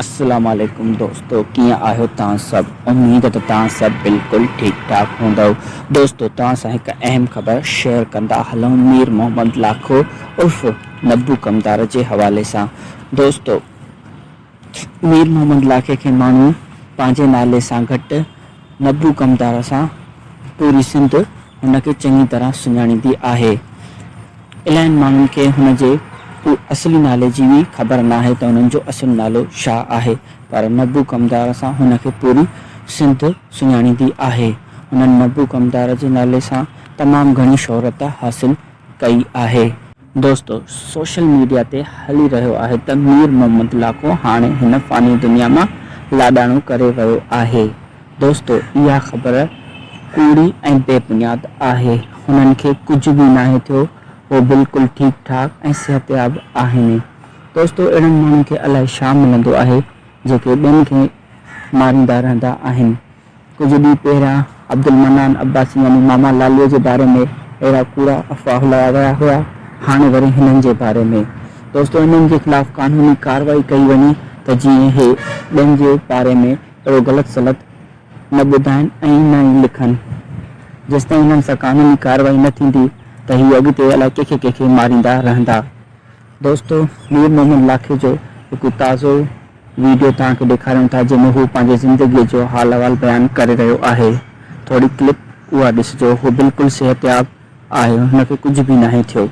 السلام عليڪم دوستو ڪيئن آهيو توهان سڀ اميد ته توهان سڀ بلڪل ٺيڪ ٺاڪ هوندؤ دوستو توهان سان هڪ اهم خبر شيئر ڪندا هلون مير محمد لاکو عرف نبو ڪمدار جي حوالي سان دوستو مير محمد لاکي کي ماڻهو پنهنجي نالي سان گهٽ نبو ڪمتار سان پوري سنڌ هن کي چڱي طرح سڃاڻيندي آهي. الاهين ماڻهن کي هن جي اصلي نالي جي به خبر ناهي ته هن جو اصل نالو ڇا آهي پر نبو ڪمتار سان هن کي پوري سنڌ سڃاڻيندي آهي. هنن نبو ڪمتار جي نالي سان تمام گهڻي شهرت حاصل ڪئي آهي. دوستو سوشل ميڊيا تي هلي رهيو آهي ته مير محمد لاکو هاڻي هن فاني دنيا مان لاڏاڻو ڪري ويو آهي دوستو اها خبر ڪوڙي ۽ بي بنياد آهي هنن کي ڪجهه به ناهي ٿيو هو بلڪل ٺيڪ ٺاڪ ۽ صحتياب آهن دوستو اهڙن ماڻهن کي الائي شا ملندو آهي جيڪي ٻين کي ماريندا رهندا آهن ڪجهه ڏينهن پهريان عبدالمنان عباسي يعني ماما لاليء جي باري ۾ اهڙا ڪوڙا افواهه هلايا ويا هيا، هاڻي وري هنن جي باري ۾. دوستو هنن جي خلاف قانوني ڪارروائي ڪئي وڃي ته جيئن هي ٻين جي باري ۾ اهڙو غلط سلط نه ٻڌائين ۽ نه ئي لکن. جيستائين هنن سان قانوني ڪارروائي نه ٿيندي ته هي اڳتي الائي ڪنهن کي ڪنهن کي ماريندا رهندا. دوستو مير محمد لاکي جو هڪ تازو. ويڊيو توهان کي ڏيکاريون ٿا جنهن ۾ هو پنهنجي زندگي جو حال احوال بيان ڪري رهيو آهي ٿوري ڪلپ اها ڏسجو هو بلڪل صحتياب آهي هن کي ڪجهه به ناهي ٿيو.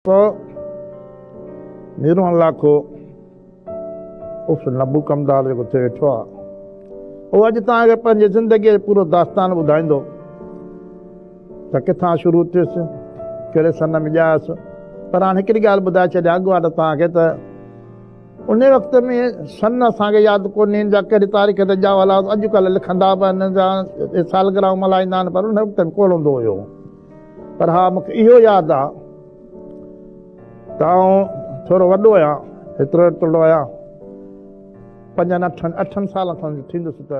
ڪو نيرون لاکو اف نبو ڪمدار جيڪو ٿي ويٺو آ اهو اڄ توهان کي پنهنجي زندگي جو پورو داستان ٻڌائيندو ته ڪٿان شروع ٿيس ڪهڙي سن ۾ ڄايس پر هاڻ هڪڙي ڳالهه ٻڌائي ڇڏيان اڳواٽ توهان کي ته ان وقت ۾ سن اسان کي ياد ڪونهي جا ڪهڙي تاريخ تي ڄاء هلا اڄڪلهه لکندا به آهن جا سالگرهه ملهائيندا آهن پر ان وقت ۾ ڪوڙ هوندو هيو پر ها مون کي اهو ياد آ ته آئون ٿورو وڏو آهيان، هيترو هيترڙو آهيان، پنجن اٺن اٺن سالن کن جو ٿيندس ته.